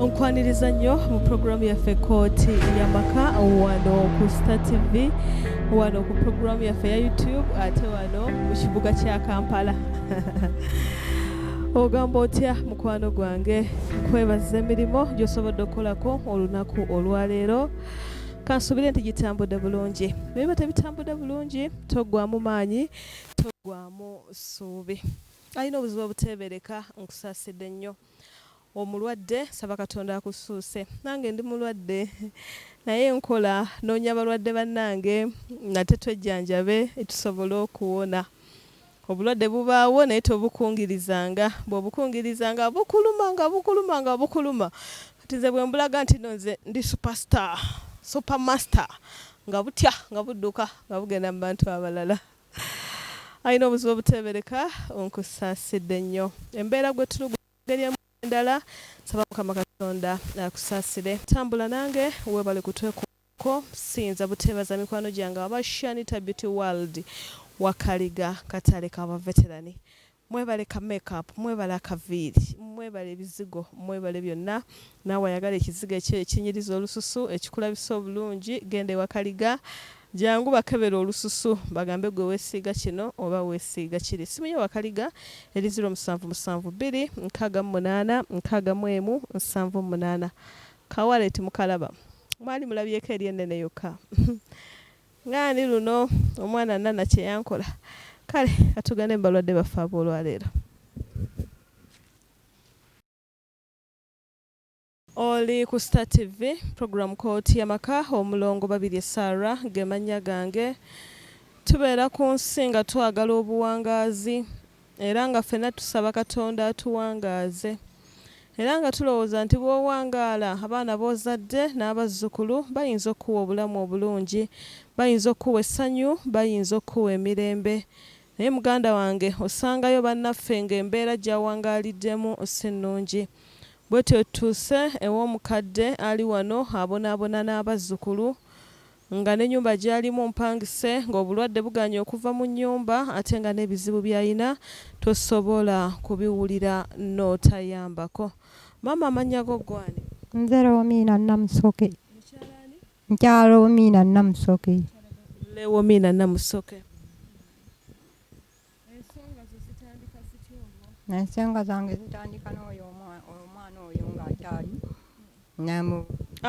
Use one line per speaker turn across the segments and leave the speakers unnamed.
onkwaniriza nnyo mu pulogulaamu yaffe kooti yamaka wano ku star tv wano ku pulogulaamu yaffe ya youtube ate wano mu kibuga kya kampala ogamba otya mukwano gwange kwebaza emirimu gyosobodde okukolako olunaku olwaleero kansubire nti gitambudde bulungi naye batebitambudde bulungi toggwamu maanyi toggwamu ssuubi Alina obuzibu obuteebereka. Nkusaasidde nnyo. Omulwadde, nsaba Katonda akussuuse. Nange ndi mulwadde. Naye nkola, nnoonya balwadde bannange nate twejjanjabe tusobole okuwona. Obulwadde bubaawo naye tobukungirizanga. Bw'obukungiriza nga bukuluma, nga bukuluma, nga bukuluma. Kati nze bwe mbulaga nti nno nze ndi super star, super master, nga butya, nga budduka, nga bugenda mu bantu abalala. Alina obuzibu obuteebereka, nkusaasidde nnyo. Embeera gwe tulugu mu ngeri emu oba endala, nsaba Mukama Katonda akusaasire. Tambula nange, weebale kutwekuumako. Siyinza buteebaza mikwano gyange aba Shanita Beauty World, Wakaliga, Katale ka Baveterani. Mwebale ka make up, mwebale akaviiri, mwebale ebizigo, mwebale byonna. Naawe ayagala ekizigo ekyeyo ekinyiriza olususu, ekikulabisa obulungi, genda ewa Kaliga. Jangu bakebere olususu bagambe gwe weesiiga kino oba weesiiga kiri. Essimu ye Wakaliga eri ziro musanvu musanvu bbiri nkaaga mu munaana nkaaga mu emu nsanvu mu munaana. Ka wallet mukalaba? Mwali mulabyeko eri ennene yokka? Nga ndi luno omwana Nana kye yankola. Kale ka tugende mu balwadde baffe ab'olwaleero. Oli ku Star TV, pulogulaamu Kkooti y'Amaka, Omulongo Babirye Sarah ge mannya gange. Tubeera ku nsi nga twagala obuwangaazi. Era nga ffenna tusaba Katonda atuwangaaze. Era nga tulowooza nti bw'owangaala, abaana b'ozadde n'abazzukulu bayinza okukuwa obulamu obulungi, bayinza okukuwa essanyu, bayinza okukuwa emirembe. Naye muganda wange, osangayo bannaffe ng'embeera gy'awangaaliddemu si nnungi. Bwetyo tutuuse ew'omukadde ali wano abonaabona n'abazzukulu. nga n'ennyumba gy'alimu mpangise, ng'obulwadde bugaanyi okuva mu nnyumba ate nga n'ebizibu by'alina tosobola kubiwulira n'otayambako. Maama amannya go ggwe ani? Nze Lewomiina
Namusoke. Mukyala ani? Mukyala Lewomiina Namusoke. Lewomiina
Namusoke.
ensonga zange zitandika n'oyo omwana oyo ng'akyali namu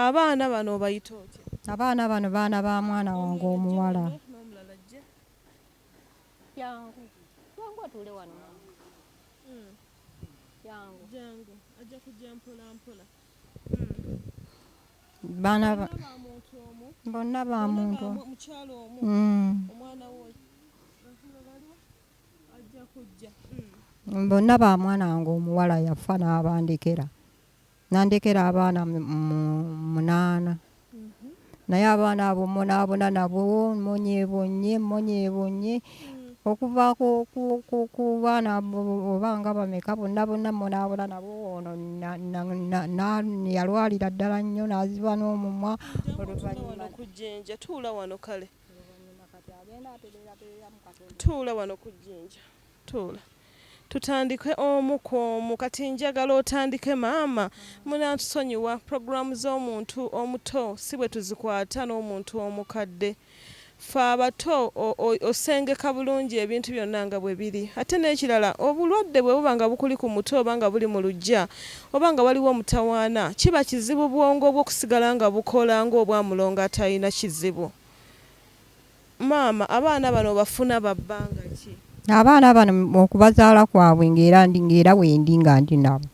abaana bano obayita otya abaana bano baana
ba mwana wange omuwala yangu yangu atuule wano hmm. yangu
jangu ajja kujja mpola mpola hmm.
Bana
ba bonna ba muntu omu. Mm. bonna
ba mwana wange omuwala yafa n'abandekera nandekera abaana munaana naye abaana abo munaabona nabo monyebonye monyebonye okuva ku baana oba nga bameka bonna bonna munaabula nabo ono yalwalira ddala nnyo n'aziba n'omumwa oluvanyumakujjinja
tuula wano kale tuula wano ku jjinja tuula Tutandike omu kwomu kati njagala otandike maama munatusonyiwa program zomuntu omuto sibwetuzikwata nomuntu omukadde ffe abato osengeka bulungi ebintu byonna nga bwebiri ate nekirala obulwadde bwebuba nga bukuli ku mutwe oba nga buli mu lujja oba nga waliwo omutawaana kiba kizibu bwongobwo okusigala nga bukola ngobwamulongo atalina kizibu Maama abaana bano obafuna babbanga ki? Abaana bano
okubazaala kwabwe ng'era ndi ng'era wendi nga ndi nabo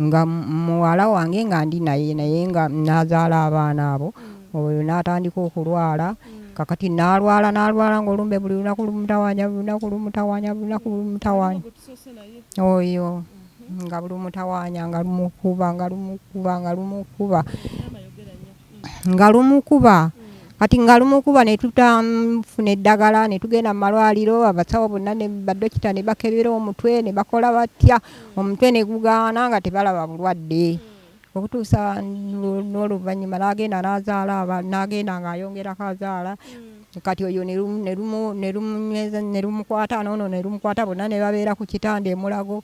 nga muwala wange nga ndi naye naye nga nazaala abaana abo oyo n'atandika okulwala kakati nalwala nalwala ngaolumbe buli lunaku lumutawanya buli lunaku lumutawanya buli lunaku lumutawanya oyo nga buli lumutawanya nga lumukuba nga lumukuba nga lumukuba nga lumukuba kati nga lumukuba ne tutamfuna eddagala ne tugenda mu malwaliro abasawo bonna ne badokita ne bakebera omutwe ne bakola batya omutwe ne gugaana nga tebalaba bulwadde okutuusa n'oluvannyuma n'agenda n'azaala aba n'agenda ng'ayongerako azaala kati oyo ne lumukwata n'ono ne lumukwata bonna ne babeera ku kitanda emulago.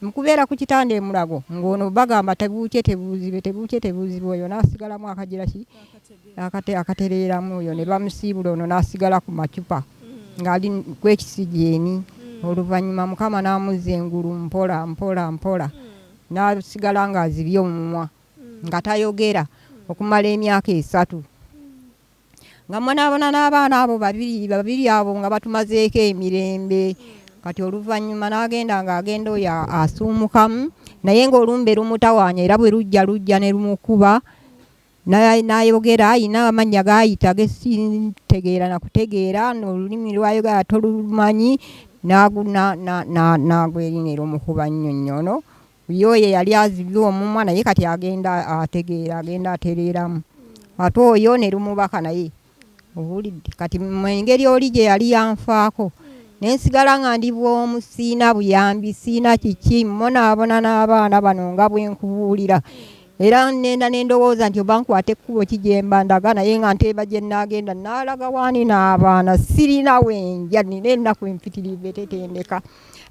Mu kubeera ku kitanda e Mulago ng'ono bagamba tebuukye tebuuzibe tebuukye tebuuzibe oyo n'asigalamu akagira ki akatereeramu oyo ne bamusiibula ono n'asigala ku macupa ng'ali ku ekisigyeni oluvannyuma Mukama n'amuzza engulu mpola mpola mpola n'asigala ng'azibye omumwa nga tayogera okumala emyaka esatu. nga mbonaabona n'abaana abo babiri babiri abo nga batumazeeko emirembe kati oluvannyuma n'agenda ng'agenda oyo asuumukamu naye ng'olumbe lumutawaanya era bwe lujja lujja ne lumukuba n'ayogera alina amannya g'ayita gesitegeera na kutegeera n'olulimi lw'ayogera tolumanyi n'agwerina erumukuba nnyo nnyo ono Ye oyo eyali azibye omumwa naye kati agenda ategeera agenda atereeramu ate oyo ne lumubaka naye owulidde kati mu engeri oli gye yali yanfaako ne nsigala nga ndi bw'omu siina buyambi siina kiki mmonaabona n'abaana bano nga bwe nkubuulira era nenda ne ndowooza nti oba nkwata ekkubo ki gye mba ndaga naye nga nteeba gye nnaagenda nnaalaga waani n'abaana sirina we nja nina ennaku empitirivu etetendeka.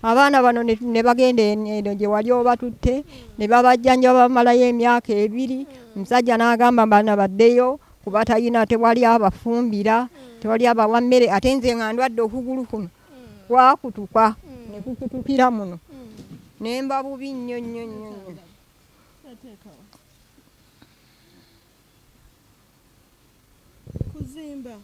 abaana bano ne bagenda eno gye wali obatutte ne babajjanja bamalayo emyaka ebiri omusajja n'agamba bana baddeyo kuba talina tewali abafumbira tewali abawa mmere ate nze nga ndwadde okugulu kuno kwakutuka ne kukutukira muno ne mba bubi nnyo nnyo nnyo nnyo
kuzimba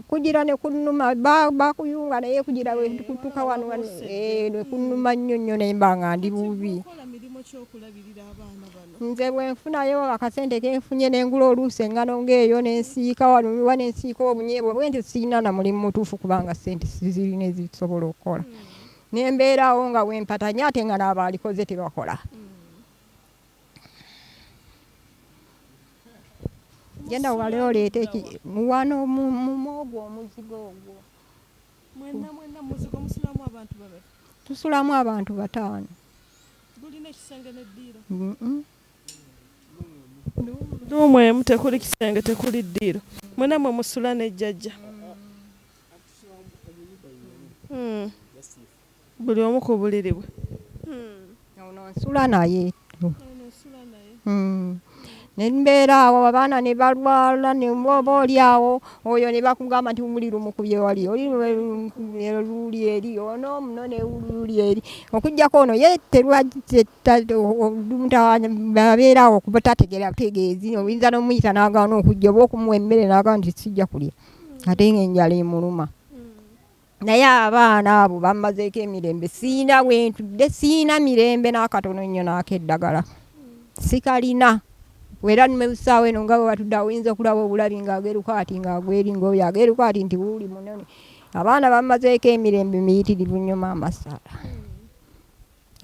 Kugira ne kunnuma bakuyunga naye kugira wekutuka wano eh, ne kunnuma nnyo nnyo naye mba nga ndi bubi nze bwenfunayo akasente kenfunye nengula oluusi engano ngaeyo nensiika wanuwa nensiika obunyebwe bwenti sirina na mulimu mutuufu kubanga sente sizirina ezisobola okukola hmm. nembeerawo nga wempatanye ate nga naaba alikoze tebakola hmm. genda wale oleete wano mumu ogwo omuzigo ogwo
tusulamu abantu
bataano
luumu emu tekuli kisenge tekuli ddiiro mwena mwe musula ne jjajja hmm. Buli omu ku buliri bwe.
Ono nsula naye. Ne mbeera awo abaana ne balwala ne oba oli awo oyo ne bakugamba nti buli lumukubye wali oli luuli eri ono muno ne luuli eri okujjako ono ye terwababeera awo okuba tategera tegeezi oyinza n'omuyita n'agaana okujja oba okumuwa emmere n'agaana nti sijja kulya ate ng'enjala emuluma. naye abaana abo bammazeeko emirembe siina wentudde siina mirembe n'akatono nnyo naako eddagala sikalina era nmebusaawo eno nga webatudde awoyinza okulaba obulabi ng'ageruka ati ng'agweri ngaoyo ageruka ati nti wuuli munene abaana bammazeeko emirembe miyitirivu nnyo maama saala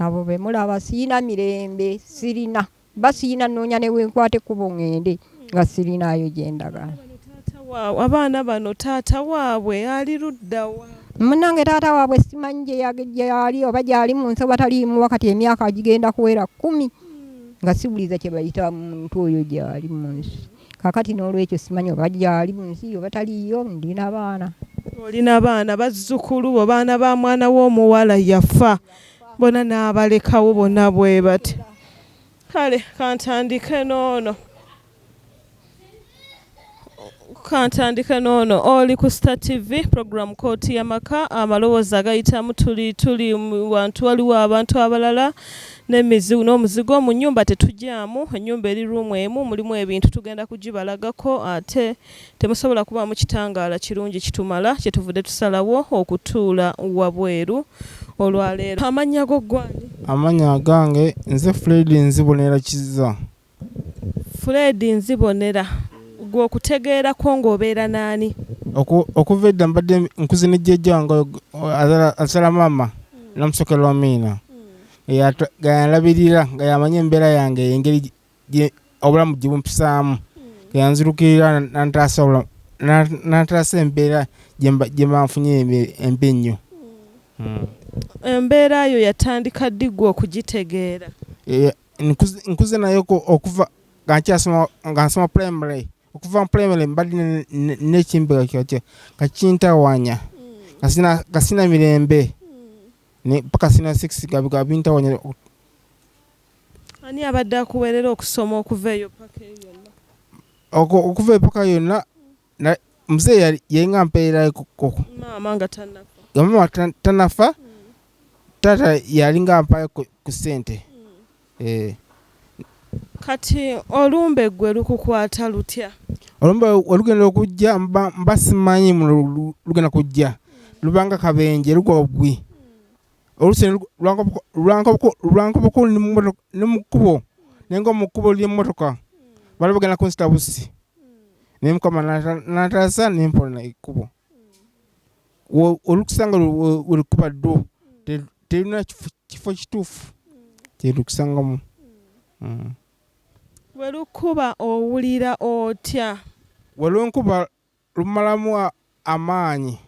abo bemulaba siina mirembe sirina mm. Basiina nnoonya ne we nkwata ekkubo ŋŋende nga sirinaayo gye ndaga. Abaana
bano taata waabwe ali ludda wa? Munnange taata
waabwe simanyi gy'ali oba gy'ali mu nsi oba taliimu wakati emyaka gigenda kuwera kkumi nga siwuliza kye bayita muntu oyo gy'ali mu nsi. Kaakati noolwekyo simanyi oba gy'ali mu nsi oba taliiyo. Ndi na baana. Oli na baana?
Bazzukulu bo, baana ba mwana wo omuwala yafa bona n'abalekawo bona bwe bati? Kale kantandike n'ono kantandike n'ono oli ku star tv program kooti yamaka amalowoozi agayitamu tuli tuli wantu waliwo abantu abalala n'emizigo n'omuzigo mu nyumba tetugyamu enyumba eri ruumu emu mulimu ebintu tugenda kugibalagako ate uh, Temusobola kubaamu kitangaala kirungi kitumala, kyetuvude tusalawo okutuula wabweru olwaleero. Amannya go ggwe ani? Amannya agange
nze Fred Nzibonera Kizza.
Fred Nzibonera, ggwe okutegeera kwo nga obeera n'ani? Oku, okuva
edda mbadde nkuze ne jjajja wange azala, azala maama Namusoke Lwamiina, nga yanlabirira, nga yamanyi embeera yange engeri obulamu gyebumpisaamu yanzirukirira nantaasa embeera gyemanfunye embi ennyo hmm. embeera
yo yatandika ddi gwe okugitegeera
e, nkuze naye okuva nga nsoma primary okuva mu primary mbadde nekimbega kyokyo nga kintawanya nga sina mirembe paka sina six gabintawanya Ani
abadde akuwerera okusoma okuva eyo paka eyo yonna? Oko okuva
epaka yonna na mzee yali yainga mperera koko. Maama nga tanafa.
Nga maama tan,
tanafa mm. tata yali nga mpaye ku sente. Mm. Eh.
Kati olumbe gwe lukukwata lutya? Olumbe
olugenda okujja mba, mba simanyi lugenda kujja. Mm. Lubanga kabenje lugwa ogwi. Mm. olusene lwankoboko ne mu kkubo naye nga mu kkubo ly'emmotoka bali bagenda kunzita bussi naye mukama nataasa ne mpona ekkubo olukusanga welukuba ddu terina kifo kituufu kyelukusangamu mm.
welukuba owulira otya welunkuba
lumalamu amaanyi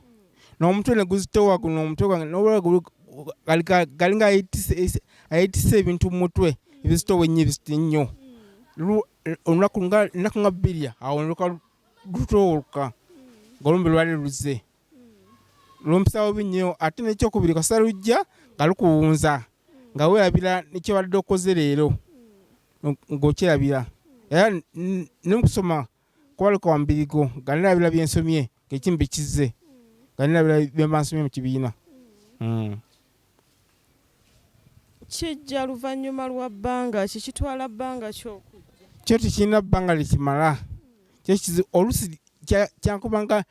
n'omutwe ne guzitowa guno omutwe gwange n'obulala galinga ayetise ebintu mu mutwe ebizitowa ennyo ebizito ennyo olunaku ennaku nga bbiri awo noluka lutowoluka ngolumbe lwali luze lumpisawo bi nnyo ate nekyokubiri kasita lujja nga lukuwunza nga weerabira nekyobadde okoze leero ng'okyerabira era nemukusoma kuba leka wambirigo nga nina bira byensomye ngekimu bikizze nga nina bira byembansomye mu kibiina hmm.
kijja luvannyuma lwa bbanga ki kitwala bbanga kyokujja kyo tekirina bbanga
lyekimala kyekizi olusi kyankubanga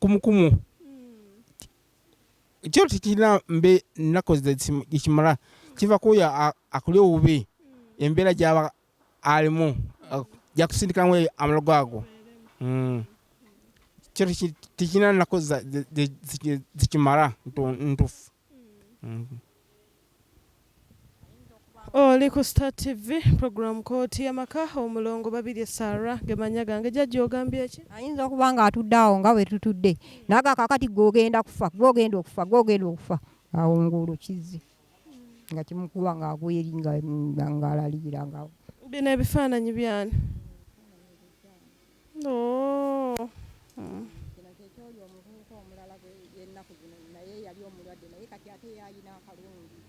kumukumu hmm. kyo tekirina mbe nnaku ekimala kiva kuoyo akuli obubi hmm. embeera gyaba alimu ajja kusindikamu amalogo ago mm. kyo tekirina nako zikimala ntufu mm. oli oh, ku star tv program kooti yamaka omulongo babirye sara gemanya gange jajja ogambye ki ayinza okuba nga atudde
awo nga wetutudde naga kakati gwogenda kufa gwogenda okufa gwogenda okufa awo ngulu kizzi nga kimukuba nga agweri nga nga alaliira nga bino ebifaananyi
byani oh. hmm.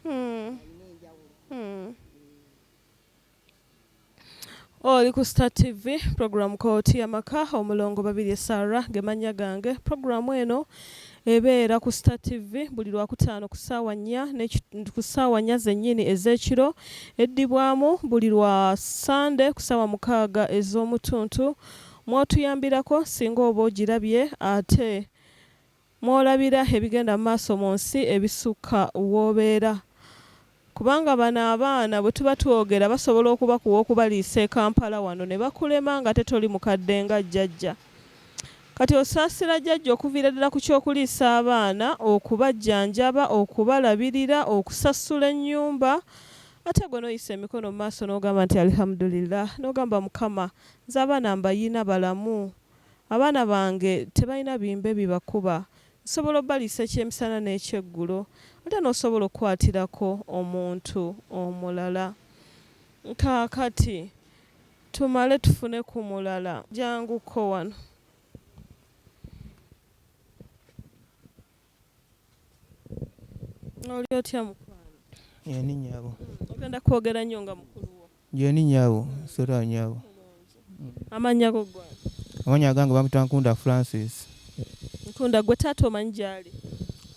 Hmm. Hmm. Oli ku Star TV, pulogulaamu Kooti y'Amaka, Omulongo Babirye Sarah ge mannya gange. Pulogulaamu eno ebeera ku Star TV buli Lwakutaano ku ssaawa nnya ku ssaawa nnya zennyini ez'ekiro, eddibwamu buli lwa Ssande ku ssaawa mukaaga ez'omu ttuntu mw'otuyambirako singa oba ogirabye ate mw'olabira ebigenda mu maaso mu nsi ebisukka w'obeera kubanga bano abaana bwe tuba twogera basobola okubakuwa okubaliisa e Kampala wano ne bakulema ng'ate toli mukadde nga Jjajja. Kati osaasira Jjajja okuviira ddala ku ky'okuliisa abaana, okubajjanjaba, okubalabirira, okusasula ennyumba ate gwe n'oyisa emikono mu maaso n'ogamba nti Alihamudulillah, n'ogamba Mukama nze abaana mbayina balamu. Abaana bange tebalina bimbe bibakuba. Nsobola obaliisa ekyemisana n'ekyeggulo. Ate n'osobola okukwatirako omuntu omulala. Kaakati tumale tufune ku mulala. Janguko wano. oli otya mukwano yani nyabo
ogenda kwogera
nnyo nga mukulu wo yani nyabo
sera nyabo amannya
go gwa amannya agange bamuta
nkunda francis nkunda
gwe taata omanyi gyali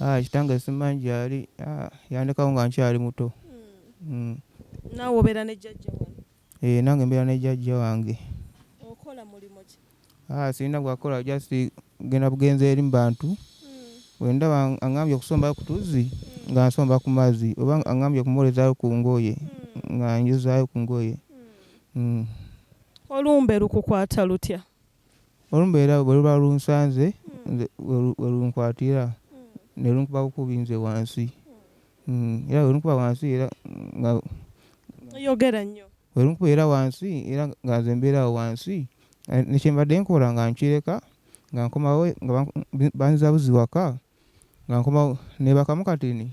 ah, kitange
simanyi gyali ah, yandekawo nga nkyali muto hmm.
Hmm. naawe obeera ne jjajja wano Eeh nange mbeera ne jajja
wange. Okola
mulimu ki? Haa sirina gwakukola
just kugenda bugenzi eri mubantu bwendaba angambye okusomba kutuzzi nga nsomba kumazzi oba angambye okumwolezayo kungoye nga njozayo kungoye.
Olumbe lukukwata lutya? Olumbe
era bwe luba lunsanze nze we lunkwatira ne lunkuba bukubi nze wansi era bwe lunkuba wansi
era nga bwe lunkuba era wansi
era nga nze mbeera awo wansi ne kye mbadde nkola nga nkireka nga nkomawo nga banzizabuzi waka nga nkomawo neebakamu katini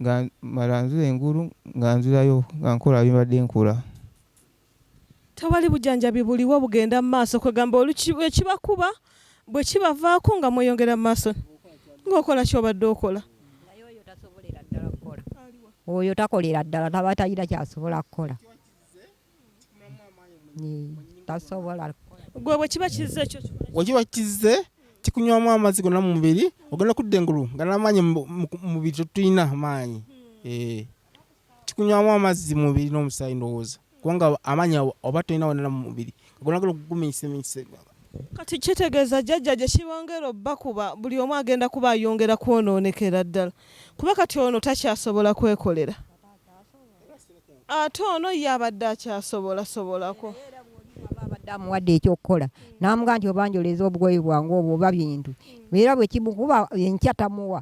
nga mala nzira engulu nga nzirayo nga nkola bye mbadde nkola.
Tewali bujanjabi buliwo bugenda mu maaso kwegamba ekibakuba bwekibavaako nga mweyongera mu maaso ng'okola kyobadde okola.
Oyo takolera ddala taba talina kyasobola kukola tasobola. Gwe bwe
kiba kizze ekyo bwe kiba kizze
kikunywamu amazzi gonna mu mubiri ogenda kudda engulu nga n'amaanyi mu mubiri tetulina maanyi. Hmm. Eh. kikunywamu amazzi mumubiri n'omusaayi ndowooza kubanga amaanyi oba tolina wonana mu mubiri kagonagala okuguminyisaminyisa kati
kitegeeza jjajja gye kibongera obbakuba buli omu agenda kuba ayongera kwonoonekera ddala kuba kati ono takyasobola kwekolera ate ono ye abadde akyasobolasobolako
abadde amuwadde ekyokukola n'amugaa nti obanjoleza obugoye bwange obwo oba bintu era bwe kimukuba enkya tamuwa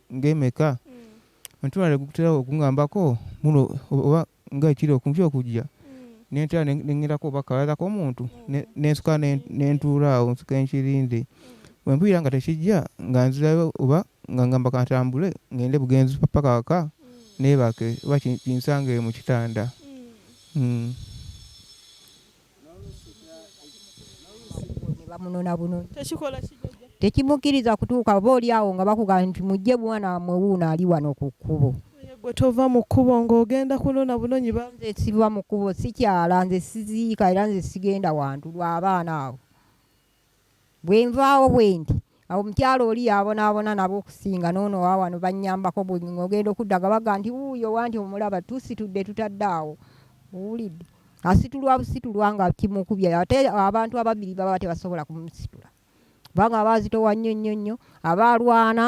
ng'emeka omutima ne gutera okungambako muno oba nga ekiro okumpi okujja ne ntera ne ŋŋendako oba kabaala k'omuntu ne ne nsituka ne ne ntuula awo nsituke nkirinde bwe mpulira nga tekijja nga nzirayo oba nga ŋŋamba ka ntambule ŋŋende bugenzi ppaka awaka neebake oba ki kinsange mu kitanda.
tekimukkiriza kutuuka oba oli awo nga bakugamba nti mujje mwana wamwe wuuno ali wano ku kkubo gwe tova mu
kkubo ng'ogenda kunona bunonyi banze siva mu kkubo
sikyala nze siziika era nze sigenda wantu lw'abaana abo Bwe nvaawo bwendi, awo omukyala oli y'abonaabona nabo okusinga, n'ono wa wano, bannyambako. Bwe ng'ogenda okudda, nga bagamba nti, Wuuyo wanti, omulaba, tusitudde, tutadde awo. Owulidde? Asitulwa busitulwa nga kimukubye. Ate abantu ababiri baba tebasobola kumusitula, kubanga aba azitowa nnyo nnyo nnyo, aba alwana,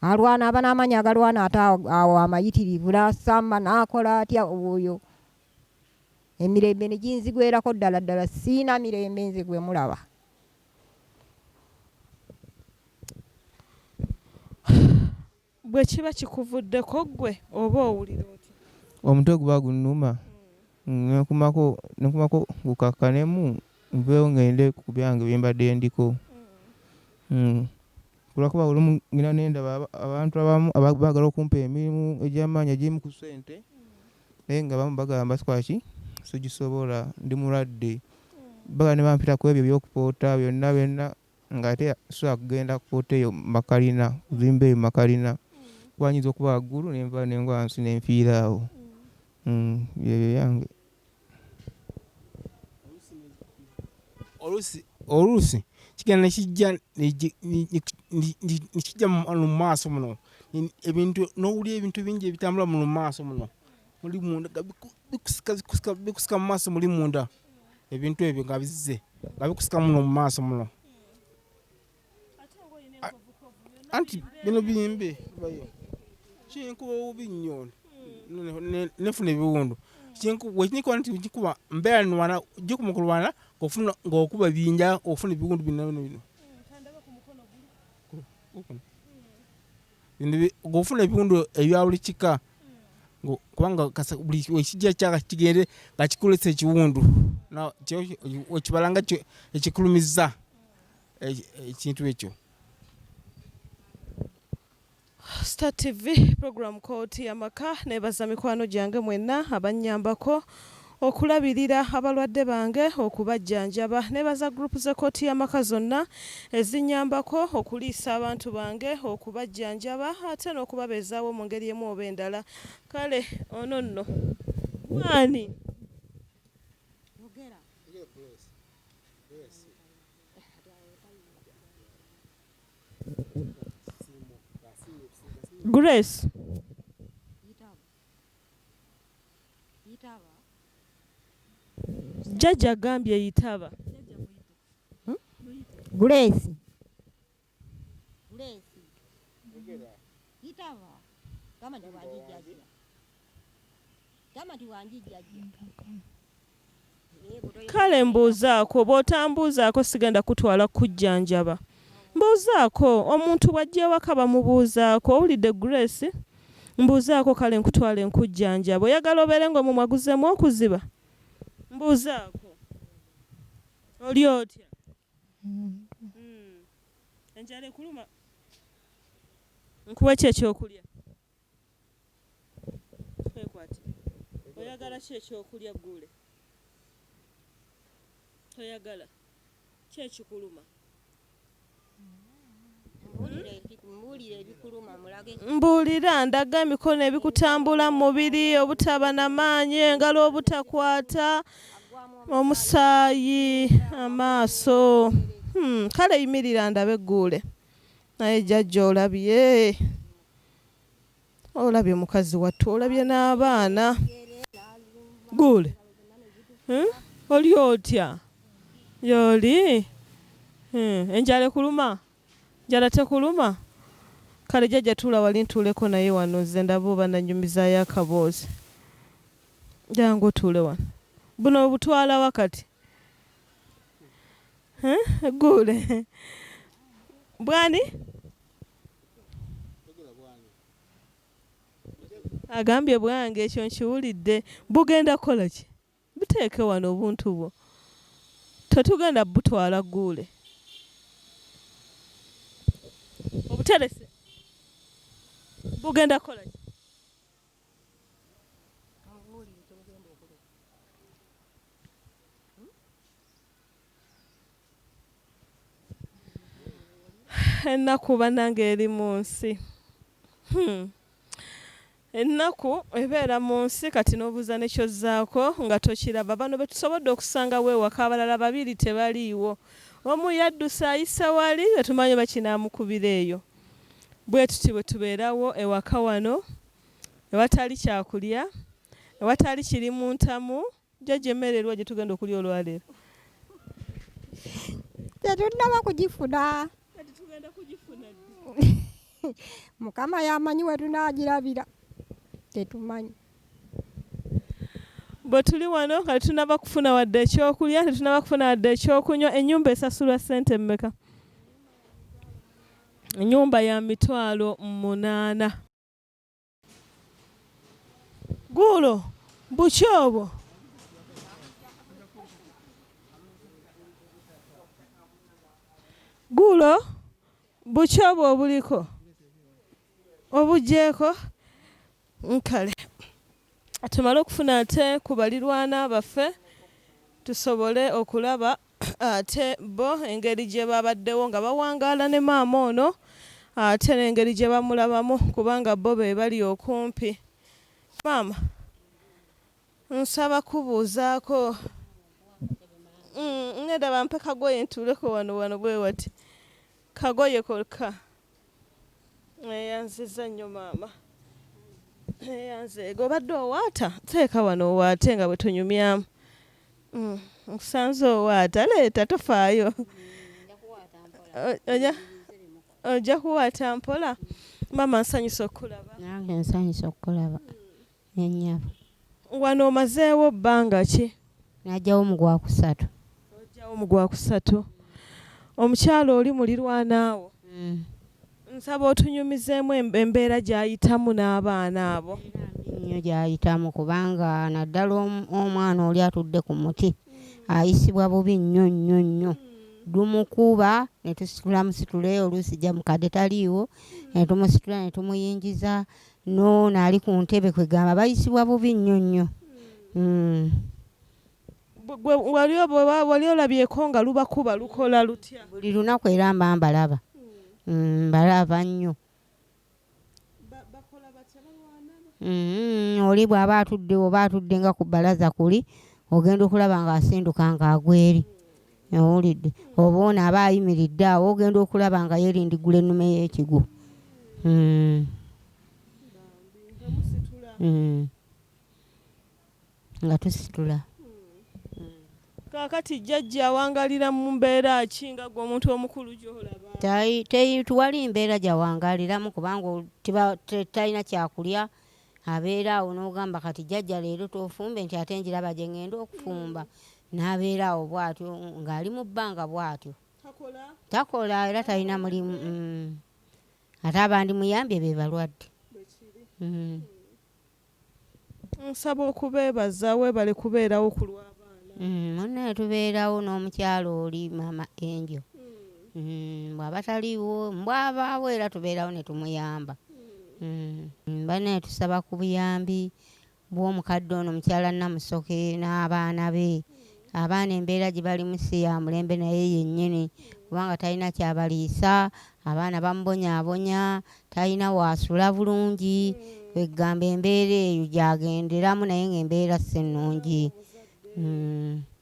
alwana, aba n'amaanyi agalwana ate awo amayitirivu, n'asamba, n'akola atya, oyo. emirembe ne ginzigwerako ddala ddala sirina mirembe nze gwe mulaba.
Bwe kiba kikuvuddeko ggwe oba owulira otya? Omutwe guba
gunnuma ne nkumako ne nkumako gukakkanemu nveewo ng'ende ku byange bye mbadde ndiko. Kulwa kuba olumu ngenda ne ndaba abantu abamu baagala okumpa emirimu egy'amaanyi egimu ku ssente. naye nga abamu bagamba sikola ki sigisobola ndi mulwadde bagala ne bampita ku ebyo ebyokupoota byonna byonna ng'ate sobola kugenda kupoota eyo makalina kuzimba eyo makalina kuba nyinza okuba waggulu ne nva ne ngwa wansi ne nfiira awo mm, ebyo yange
oluusi oluusi kigenda nekijja nekijja mu maaso muno ebintu n'owulira ebintu bingi ebitambula mu maaso muno muli munda bikusika mu maaso muli munda ebintu ebyo nga bizze nga bikusika muno mu maaso muno anti bino biyimbe bayo kinkuba obubi nnyo nefuna ebiwundu wekinyikuba nti kikuba mbeera nwana jikuba okulwana ngaokuba binja ofuna ebiwundu bino bino bino ng'ofuna ebiwundu ebya buli kika kubanga buli ekijja kyaka kigende nga kikulesa ekiwundu ekibala nga ekikulumiza ekintu e, e, ekyo
Star TV program kooti yamaka nebaza mikwano gyange mwenna abanyambako okulabirira abalwadde bange okubajjanjaba nebaza gurupu z'ekkooti y'amaka zonna ezinyambako okuliisa abantu bange okubajjanjaba ate n'okubabeezaawo mu ngeri emu oba endala kale ono nno waani Grace. Jjaja gambye yitaba. Hmm?
Grace. Ulesi. Yogera. Yitaba. Kama ndi wanjijjaji. Kama ndi wanjijjaji.
kale mbuuzaako bw'otambuuzaako sigenda kutwala kujjanjaba mbuuzaako omuntu bw'ajja ewaka bamubuuzaako owulidde grace mbuuzaako kale nkutwala enkujjanjaba oyagala obeere ng'omumwa guzeemu okuziba mbuuzaako oli otya enjala ekuluma nkuwe ki ekyokulya kwekwati oyagala ki ekyokulya guule toyagala kyekikuluma mbuulira ndaga emikono ebikutambula mu mubiri obutaba na maanyi engalo obutakwata omusaayi amaaso hmm, kale yimirira ndabe egguule naye jajja olabye Olabye mukazi wattu olabye n'abaana gule hmm? oli otya yoli hmm, enjala ekuluma njala tekuluma kale jajja tuula wali ntuuleko naye wano ze ndaba oba nanyumizaayo akaboozi jangu otuule wano buno obutwala wakati hmm? gule bwani Agambye bwange ekyo nkiwulidde. Bugenda kukola ki? Buteeke wano obuntu bwo. Tetugenda butwala Gguule. Obuterese bugenda kukola ki? Ennaku bannange eri mu nsi. Hmm. Ennaku ebeera mu nsi kati n'obuuza ne ky'ozzaako nga tokiraba. Bano be tusobodde okusangawo ewaka abalala babiri tebaliiwo. Omu yadduse ayise wali tetumanyi oba kinaamukubira eyo. Bwe tuti bwe tubeerawo ewaka wano ewatali kyakulya, ewatali kiri mu ntamu. Jjajja emmere eriwa gyetugenda okulya olwaleero?
Tetunnaba kugifuna. Kati tugenda
kugifuna ddi? Mukama
y'amanyi we tunaagirabira, tetumanyi.
Bwe tuli wano nga tetunnaba kufuna wadde ekyokulya, tetunnaba kufuna wadde ekyokunywa, ennyumba esasulwa ssente mmeka? Ennyumba ya mitwalo munaana. Guulo buki obwo? Guulo buki obwo obuliko obugyeko? Nkale tumale okufuna ate ku balirwana baffe tusobole okulaba Ate bo engeri gye baabaddewo nga bawangaala ne maama ono ate n'engeri gye bamulabamu kubanga bo be bali okumpi. Maama, nsaba kukubuuzaako. Ŋŋenda bampe kagoye ntuuleko wano, wano bwe wati. Kagoye kokka. Neyanziza nnyo maama. Neyanzeega obadde owaata teeka wano owaate nga bwe tunyumyamu. Mm, nkusanze owaata leeta tofaayo. Oja oja kuwaata mpola. Maama nsanyuse okukulaba. Nange nsanyuse
okukulaba. ne nnyabo. Wano
omazeewo bbanga ki? Najjawo mu
gwakusatu. Ojjawo mu
gwakusatu. Omukyala oli mulirwanaawo? Nsaba otunyumizeemu embeera gy'ayitamu n'abaana abo. Embeera mbi nnyo gy'ayitamu
kubanga naddala omwana oli atudde ku muti ayisibwa bubi nnyo nnyo nnyo. Dumukuba ne tusitula musitule oluusi jjamukadde taliiwo ne tumusitula ne tumuyingiza Noono ali ku ntebe kwegamba bayisibwa bubi nnyo nnyo. Uhmm.
Gwe wali oba wali olabyeko nga lubakuba lukola lutya. Buli lunaku era mba
mbalaba. Uhmm mbalaba nnyo. Bakola batya balwana? Uhmm oli bwaba atudde oba atudde nga ku balaza kuli ogenda okulaba nga asinduka nga agwa eri. owulidde oba ono aba ayimiridde awo ogenda okulaba nga yerindigula ennume y'ekigwo hmm. hmm. nga tusitula kakati
jjajja awangalira mu mbeera ki nga gwe omuntu omukulu gyolaba tewali
mbeera gyawangaliramu kubanga talina kyakulya abeera awo n'ogamba kati jjajja leero tofumbe nti ate njiraba gye ŋŋenda okufumba n'abeera awo bw'atyo ng'ali mu bbanga bw'atyo takola era talina mulimu mm. ate abandimuyambye be balwadde mm.
nsaba okubeebaza weebale kubeerawo ku lw'abaana
mm, munaye tubeerawo n'omukyalo oli maama enjo Mm, bw'aba taliiwo mbwabaawo era tubeerawo ne tumuyamba mm. mm. banaye tusaba ku buyambi bw'omukadde ono mukyala Namusoke n'abaana be abaana embeera gye balimu si ya mulembe naye yennyini kubanga talina kyabaliisa abaana bamubonyaabonya talina waasula bulungi kwegamba embeera eyo gyagenderamu naye ng'embeera si nnungi mm.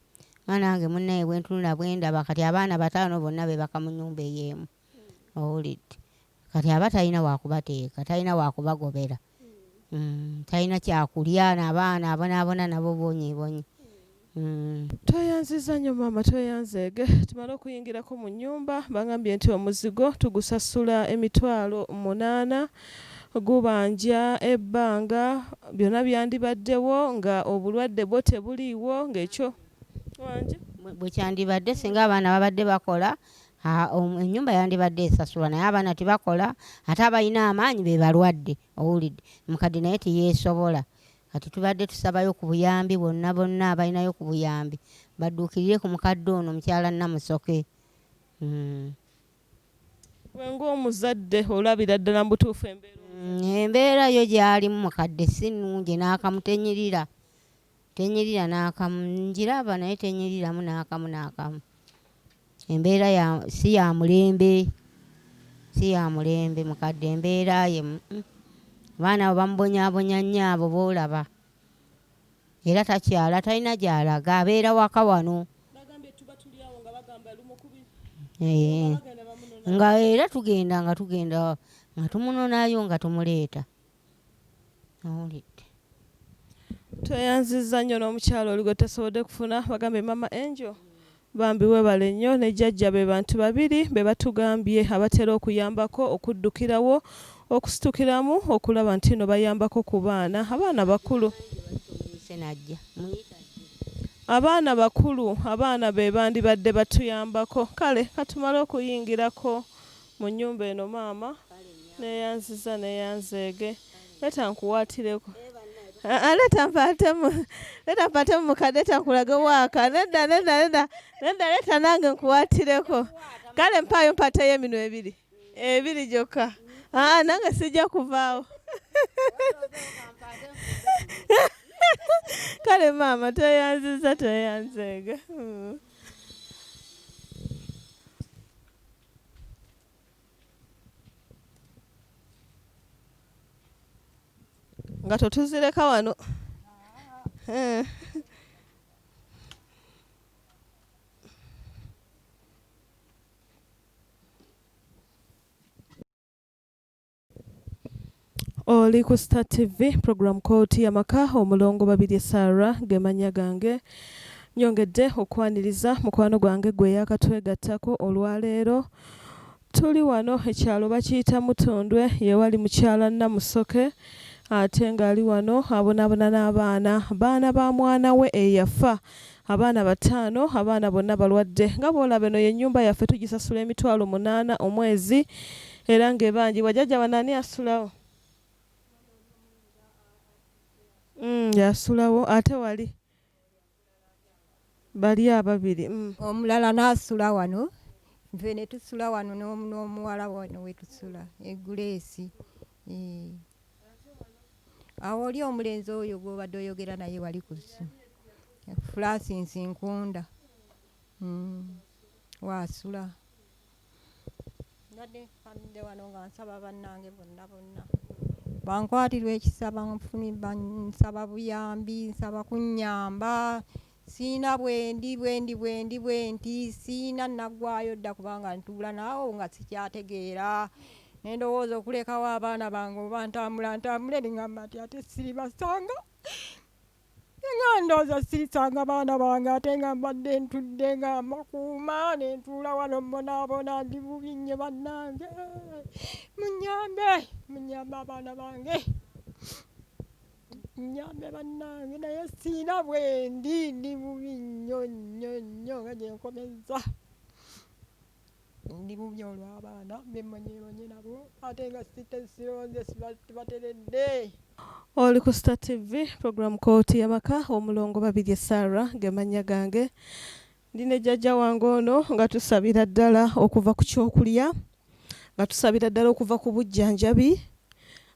nga nange munaye bwentunula bwendaba kati abaana bataano bonna bebaka munyumba eyemu owulidde kati aba talina wakubateeka talina wakubagobera mm, talina kyakulya nabaana abonabona nabo bonyebonye mm. Tweyanziza
nyo maama tweyanzeege tumale okuyingirako munyumba bangambye nti omuzigo tugusasula emitwalo munaana gubanja ebbanga byona byandibaddewo nga obulwadde bwo tebuliiwo nga ekyo wangi bwekyandibadde
singa abaana babadde bakola enyumba yandibadde esasulwa naye abaana tibakola ate abalina amaanyi bebalwadde owulidde mukadde naye tiyesobola kati tubadde tusabayo ku buyambi bonna bonna abalinayo ku buyambi badduukirire ku mukadde ono mukyala namusoke mm.
Gwe ng'omuzadde olabira ddala mu butuufu embeera omuzadde. Embeera
yo gy'alimu mukadde si nnungi n'akamu tenyirira, tenyirira n'akamu. Ngiraba naye tenyiriramu n'akamu n'akamu. Embeera ya si ya mulembe, si ya mulembe mukadde embeera ye. Abaana abo bamubonyaabonya nnyo abo b'olaba. Era takyala talina gyalaga abeera waka wano eh, nga era tugenda nga tugenda nga tumunonayo nga tumuleeta awulidde
tweyanziza nnyo n'omukyalo olugo tesobodde kufuna bagambye mama angel Bambi webale nnyo ne jajja be bantu babiri bebatugambye abatera okuyambako okuddukirawo okusitukiramu okulaba ntino bayambako ku baana abaana bakulu. Abaana bakulu abaana bebandibadde batuyambako kale katumale okuyingirako Mu nnyumba eno maama neeyanziza neeyanzeege leeta nkuwaatireko Ah, leeta mpaatemu leeta mpaatemu mukadde leeta nkulage waaka nedda nedda nedda nedda leeta nange nkuwaatireko kale mpaayo mpaateyo eminwe ebiri ebiri gyokka aa ah, nange sijja kuvaawo kale maama tweyanziza tweyanzeega mm. nga totuzireka wano eh. Oli ku Star TV program Kooti Yamaka omulongo Babirye Sarah ge mannya gange. Nyongedde okukwaniriza mukwano gwange gwe yakatwegattako olwaleero. Tuli wano ekyalo bakiyita Mutundwe yewali mukyala Namusoke ate ng'ali wano abonaabona n'abaana baana ba mwana we eyafa Abaana bataano, abaana bonna balwadde. Nga bw'olaba eno ye nnyumba yaffe tugisasula emitwalo munaana omwezi era ng'ebanjibwa. Jajja wano ani asulawo? Mm, yasulawo ate wali bali ababiri mm. omulala
n'asula wano nfe ne tusula wano n'omuwala wano we tusula eguleesi eh. awo oli omulenzi oyo gwobadde oyogera naye wali ku ssimu fulasinsi nkunda mm. waasula mbadde nkamidde wano nga nsaba bannange bonna bonna bankwatirwa ekisa bansaba buyambi nsaba kunyamba Siyina bwendi bwendi bwendi bwenti siyina nagwayo dda kubanga ntuula naawo nga sikyategeera nendowooza okulekawo abaana bange oba ntambula ntambule nengamba nti ate siribasanga nga ndooza sirisanga baana bange ate nga mbadde ntudde nga mbakuuma nentuula wano mbonaabona ndi bubi nnyo bannange munyambe munyambe abaana bange nyambe bannange naye siina bwendi ndi bubi nnyo nnyo nnyo nga gyenkomezza ndi bubi olw'abaana bemmanyeemanye nabo ate nga sitesironze sibateredde
oli ku star tv program kooti yabaka omulongo babirye sarah gemannya gange Ndi ne jjajja wange ono nga tusabira ddala okuva ku kyokulya, nga tusabira ddala okuva ku bujjanjabi,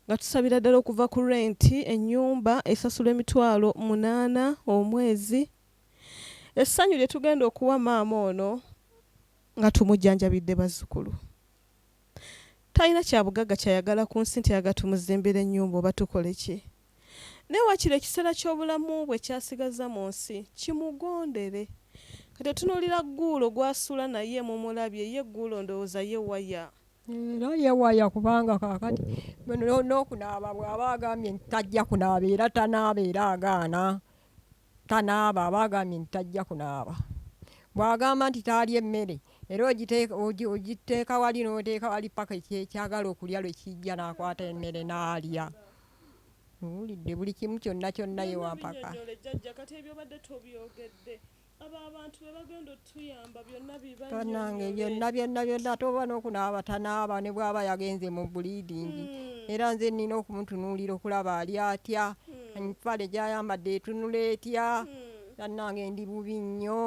nga tusabira ddala okuva ku renti, ennyumba esasulwa emitwalo munaana omwezi. Essanyu lye tugenda okuwa maama ono nga tumujjanjabidde bazzukulu. Talina kyabugagga ky'ayagala ku nsi nti ayagala tumuzimbire ennyumba oba tukole ki? Naye wakiri ekiseera ky'obulamu bwe ky'asigazza mu nsi kimugondere. Kati otunuulira Gguulo gw'asula naye mumulabye? Ye Gguulo ndowooza ye waya. Era ye
waya kubanga kaakati n'okunaaba bw'aba agambye nti tajja kunaaba era tanaaba era agaana. tanaaba aba agambye nti tajja kunaaba, bw'agamba nti taalya emmere era ogiteeka wali n'oteeka wali ppaka ky'agala okulya lwe kijja n'akwata emmere n'alya. Muwulidde buli kimu kyonna kyonna ye Wampaka.
banange byonna byonna
byonna ate oba n'okunaaba tanaaba ne bw'aba yagenze mu bulidingi hmm. era nze nnina okumutunuulira okulaba ali atya hmm. empale gy'ayambadde etunula etya hmm. bannange ndi bubi nnyo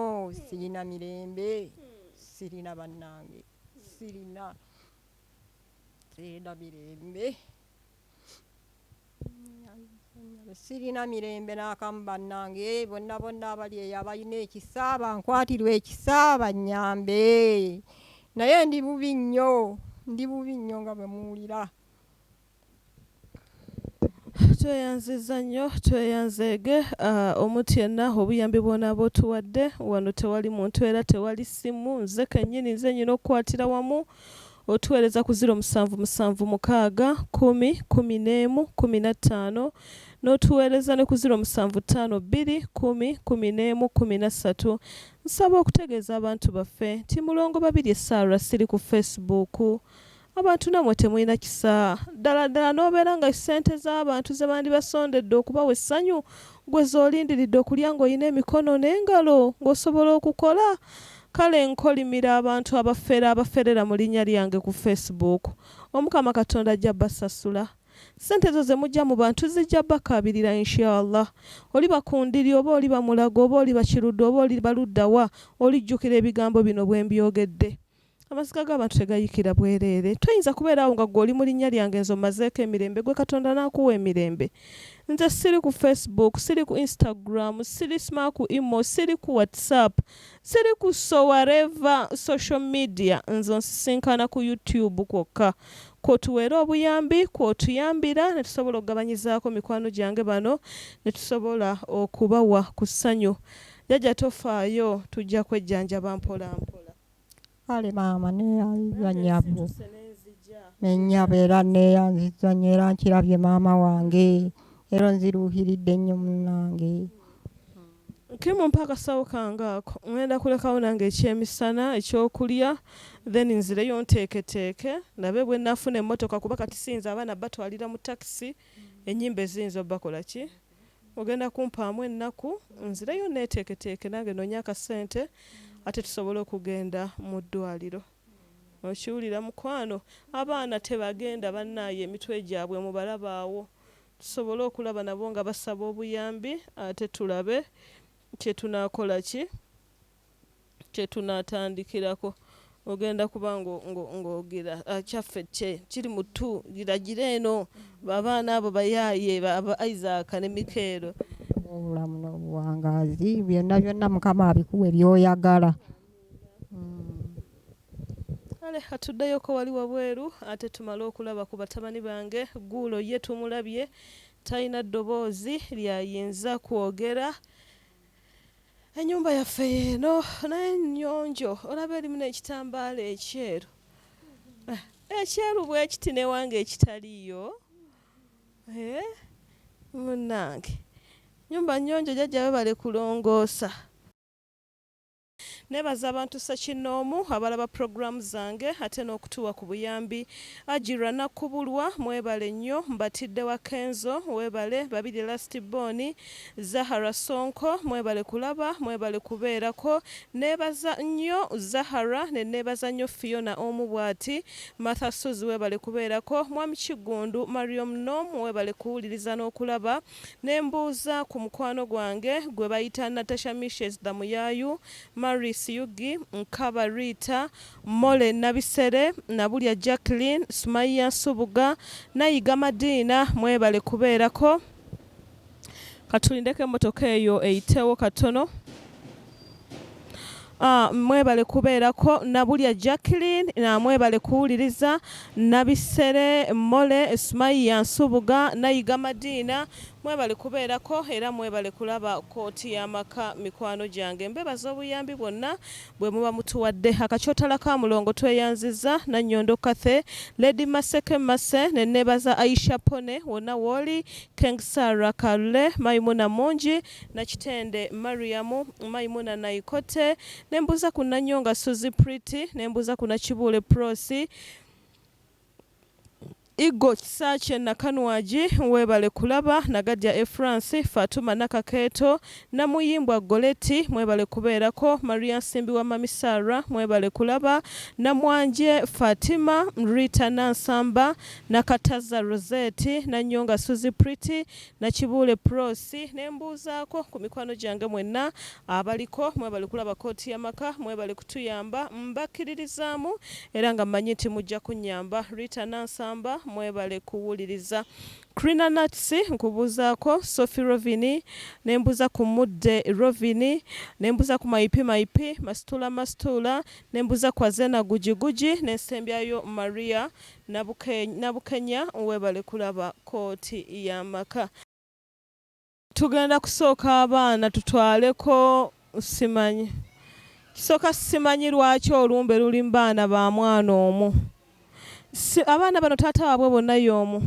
sirina mirembe sirina bannange sirina sirina mirembe Sirina mirembe n'akamu bannange eh, bonna bonna abali eyo abalina ekisa bankwatirwa ekisa bannyambe naye ndi bubi nnyo ndi bubi nnyo nga bwe muwulira
tweyanziza nnyo tweyanzeege ah, omuntu yenna obuyambi bwonaaba otuwadde wano tewali muntu era tewali ssimu nze kennyini nze nyina okukwatira wamu Otuweereza ku ziro musanvu musanvu mukaaga kkumi kkumi n'emu kkumi na ttaano n'otuweereza ne ku ziro musanvu ttaano bbiri kkumi kkumi n'emu kkumi na ssatu. Nsaba okutegeeza abantu baffe nti Mulongo Babirye Sarah siri ku Face Book. Abantu nammwe temulina kisa. Ddala ddala n'obeera nga ssente z'abantu ze bandibasondedde okubawa essanyu ggwe z'olindiridde okulya ng'olina emikono n'engalo ng'osobola okukola Kale nkolimira abantu abafere abaferera mu linya lyange ku face book. Omukama katonda ajja basasula. Sente ezo zemujja mu bantu zijja bakaabirira inshallah. Oliba ku ndiri oba oliba mulago oba oliba kiruddu oba oliba ludda wa olijjukira ebigambo bino bwembyogedde. Amaziga gabantu tegayikira bwerere. Toyinza kubeera awo nga gwe oli mu linya lyange nze ommazeeko emirembe gwe katonda nakuwa emirembe. Nze siri ku face book, siri ku instagram, siri sma ku imo, siri ku whatsapp. Siri ku so wareva social media nze onsisinkana ku you tube kwokka kwotuweera obuyambi kwotuyambira netusobola okugabanyizaako mikwano gyange bano netusobola okubawa ku ssanyu. Jjajja tofaayo tujja kwejjanjaba mpola mpola. ali
maama neyanziza nyabo nenyabo era neyanziza nyo era nkirabye maama wange era nziruuhiridde nnyo munange
kimumpa akasawo kange ako ŋenda kulekawo nange ekyemisana ekyokulya then nzireyo nteeketeeke ndabe bwe nafuna emmotoka kuba kati siyinza abaana batwalira mu takisi enyimba eziyinza obakola ki Ogenda kumpaamu ennaku nzireyo nneeteeketeeke nange nnoonye akasente ate tusobole okugenda mu ddwaaliro. Okiwulira mukwano? Abaana tebagenda bannaaye emitwe gyabwe mubalaba awo. Tusobole okulaba nabo nga basaba obuyambi ate tulabe kye tunaakola ki? kyetunatandikirako ogenda kuba ng'ogera ah, kyaffe kye kiri mu tu giragire eno babaana abo bayaaye aba isaaka ne mikeero obulamu
n'obuwangaazi byonna byonna mukama abikuwe byoyagala kale
atuddeyoko wali wabweru ate tumale okulaba ku batabani bange guulo ye tumulabye talina ddoboozi lyayinza kwogera enyumba yaffe yeeno naye nyonjo olaba erimu nekitambaala ekyeru eh, ekyeru bwekiti newange ekitaliyo eh, munange nyumba nyonjo jajja webale kulongoosa Nebaza abantu ssekinnoomu abalaba program zange ate n'okutuwa ku buyambi. Hajji Ranakkubulwa mwebale nnyo. Mbatidde wa Kenzo webale, Babirye Last Born, Zahara Ssonko mwebale kulaba, mwebale kubeerako. Nebaza nnyo Zahara ne nebaza nnyo Phiona omu bwati, Martha Ssozi webale kubeerako, Mwami Kiggundu, Mariom Nomu webale kuwuliriza n'okulaba. Ne mbuuza ku mukwano gwange gwe bayita Natasha Mishes Dhamuyaayu, Maurice Yugi, Nkaba Rita, Molly Nabisere, Nabulya Jacqueline, Sumayiya Nsubuga, Nayiga Madiina mwebale kubeerako. Katulindeko emmotoka eyo eyitewo katono. Mwebale kubeerako Nabulya Jacqueline, mwebale kuwuliriza Nabisere, Mole, Sumayiya Nsubuga, Nayiga Madiina, mwebale kubeerako era mwebale kulaba Kkooti y'Amaka mikwano gyange. Mbebaza obuyambi bwonna bwe muba mutuwadde. Akakyotala ka Mulongo tweyanzizza Nannyondo Cathy, Lady Maseke Mercy ne neebaza Aisha Pone wonna w'oli, Keng Sarah Kalule, Maimuna Mungi, Nakitende Mariam, Maimuna Naikote, ne mbuuza ku Nanyonga Suzie Pretty, ne mbuuza ku Nakibuule Prossy, Iggo Kisaakye Nakanwagi, Weebale Kulaba, Nagadya Efransi, Fatuma Nakakeeto, Namuyimbwa Goretti, Mwebale Kubeerako, Maria Nsimbiwa Mummy Sarah, Mwebale Kulaba, Namwanje Fatima, Rita Nansamba, Nakatazza Rosette, Nanyonga Suzie Pretty, Nakibuule Pross ne mbuuzaako ku mikwano gyange mwenna abaliko. Mwebale kulaba kkooti y'amaka, mwebale kutuyamba. Mbakkiririzaamu era nga mmanyi nti mujja kunnyamba. Rita Nansamba, Mwebale kuwuliriza. Crina Nuts, Nkubuuzaako. Sophie Rovini, Ne mbuuza ku Mudde Rovini. Ne mbuuza ku Mayipi Mayipi. Masituula Masituula, Ne mbuuza ku Azena Guji Guji. Ne nsembyayo Maria Nabukenya webale kulaba kooti yamaka. Tugenda kusooka abaana tutwaleko simanyi kisoka simanyi lwaki olumbe luli mubaana ba mwana omu abaana bano taata wabwe bonna yomu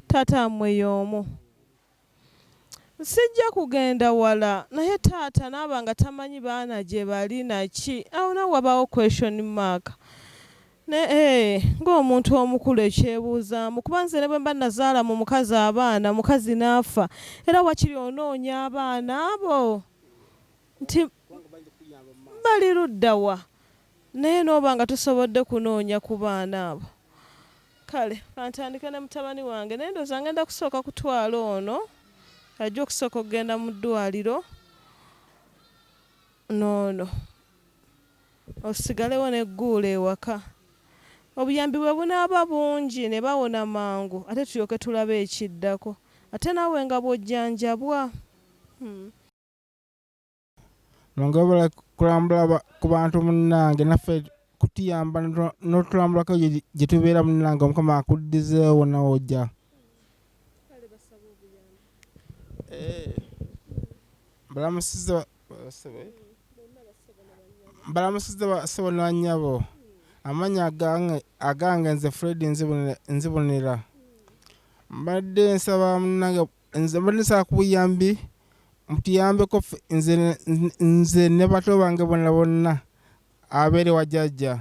taata wamwe yomu. Sijja kugenda wala naye taata naaba nga tamanyi baana gyebali naki awo nawe wabaawo question mark ne eeh ng'omuntu omukulu ekyebuuzaamu kuba nze ne bwemba nazaala mu mukazi abaana omukazi naafa era wakiri onoonya abaana abo nti bali luddawa. Naye n'oba nga tosobodde kunoonya ku baana abo, kale ka ntandike ne mutabani wange. Naye ndowooza ng'enda kusooka kutwala ono, ajja okusooka okugenda mu ddwaliro, n'ono osigalewo ne Guula ewaka. Obuyambi bwe bunaaba bungi ne bawona mangu ate tulyoke tulabe ekiddako. Ate naawe nga bw'ojjanjabwa. Hum.
nongabala kulambula ku bantu munnange naffe kutuyamba notulambulako gyetubeera munnange omukama akuddizeewo nawe ojja eh, balamusiza balamusiza basebo nanyabo amanya agange nze fred nzibonera mbadde nsaba munange Nze mbadde nsaba ku buyambi mutuyambeko ffe nze, nze ne bato bange bonna bonna abeere wa jajja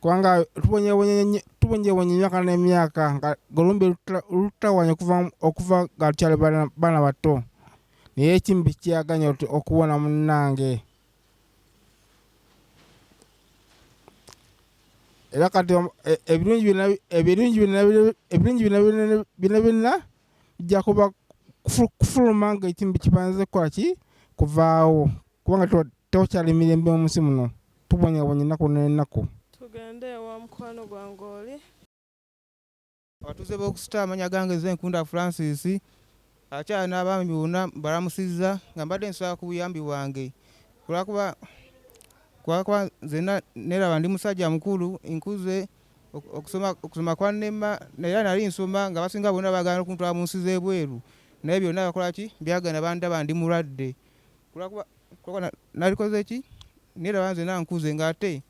kubanga tubonyebonye tubonyebonye emyaka n'emyaka nga golumbe lutta- luttawanya okuva okuva nga tukyali bana bana bato naye ekimbi kyaganya oti okuwona munnange era kati om- e- ebirungi byonna bi- ebirungi byonna bi- ebirungi byonna byonna byonna byonna bijja kuba kufuluma nga ekintu kibanze kwaki kuvaawo kubanga tewakyali mirembe mu nsi muno tubonyabonya ennaku n'ennaku tugende ewa
mukwano gwange oli
abatuuze b'okusita amanya gange ze nkunda francis akyala n'abaami bonna balamusizza nga mbadde nsaba ku buyambi bwange kulwakuba kulwakuba nze neraba ndi musajja mukulu nkuze okusoma kwannema era nali nsoma nga basinga bonna bagala okuntwala mu nsi z'ebweru naye byonna bakola ki byagana bandaba ndi mulwadde kulwakuba nalikoze ki neraba nze nankuze ng'ate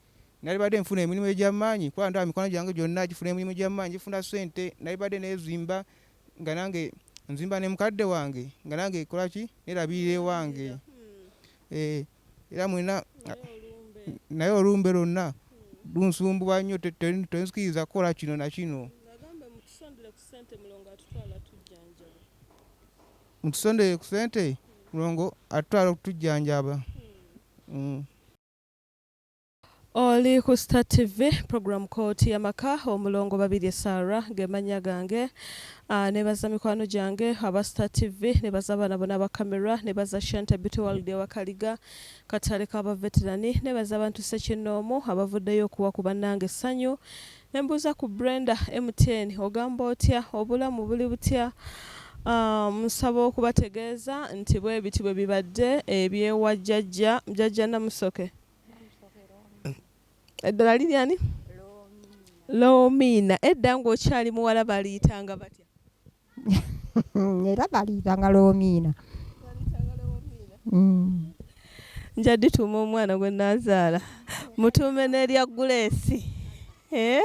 nali badde nfuna emirimu egy'amaanyi kuba ndaba mikwano gyange gyonna gifuna emirimu gy'amaanyi gifuna ssente nali badde neezimba nga nange nzimba ne mukadde wange nga nange ekolaki nerabirira ewange hmm. eh. era mwena naye olumbe lwonna lunsumbuwa nnyo tenzikiriza kukola kino na kino mutusondere ku sente mulongo atutwala okutujjanjaba hmm. Hmm.
Oli ku Star TV program Kooti yamaka omulongo Babirye Sarah gemannya gange uh, nebaza mikwano gyange aba Star TV nebaza abaana bona aba camera nebaza Shanta Beauty World ewakaliga katale ka baveterani nebaza abantu sekinnoomu abavuddeyo okuwa ku bannange essanyu nembuuza ku Brenda MTN ogamba otya obulamu buli butya Um, nsaba um, okubategeeza nti bwe biti bwe bibadde ebyewajjajja jjajja namusoke eddala liri ani lomiina edda ng'okyali muwala baliyitanga batya
era baliyitanga lomiina mm.
nja dituuma omwana gwe nazaala mutuume n'erya guleesi Eh?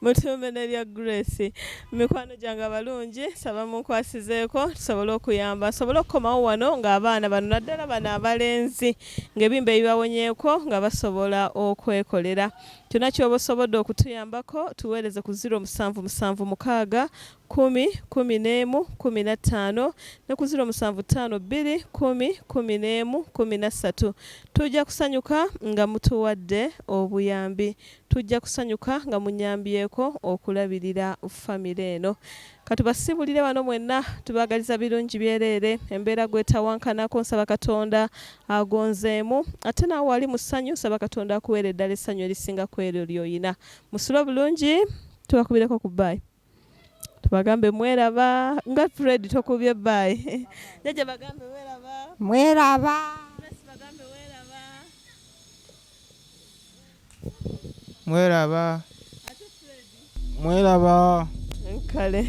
mutuume nelya grace mikwano gyange abalungi saba munkwasizeeko tusobole okuyamba nsobole okukomawo wano ng'abaana bano naddala bano abalenzi ng'ebimba ebibawonyeeko nga basobola okwekolera kyonna kyoba osobodde okutuyambako tuweereze ku 0776 kkumi, kkumi n'emu, kkumi na ttaano, ne ku ziro musanvu ttaano bbiri, kkumi, kkumi n'emu, kkumi na ssatu. Tujja kusanyuka nga mutuwadde obuyambi. Tujja kusanyuka nga munyambyeko okulabirira famire eno. Ka tubasiibulire wano mwenna. Tubaagaliza birungi byereere. Embeera gw'etawankanako, nsaba Katonda agonzeemu. Ate naawe ali mu ssanyu, nsaba Katonda akuweere ddala essanyu erisinga ku eryo ly'olina. Musule obulungi. Tubakubireko ku bbayi. Tubagambe mweraba nga Fred tokubye bby. Jajja bagambe weraba. Mweraba. Grace bagambe
weraba. Mweraba. Ate Fred. Mweraba. Kale.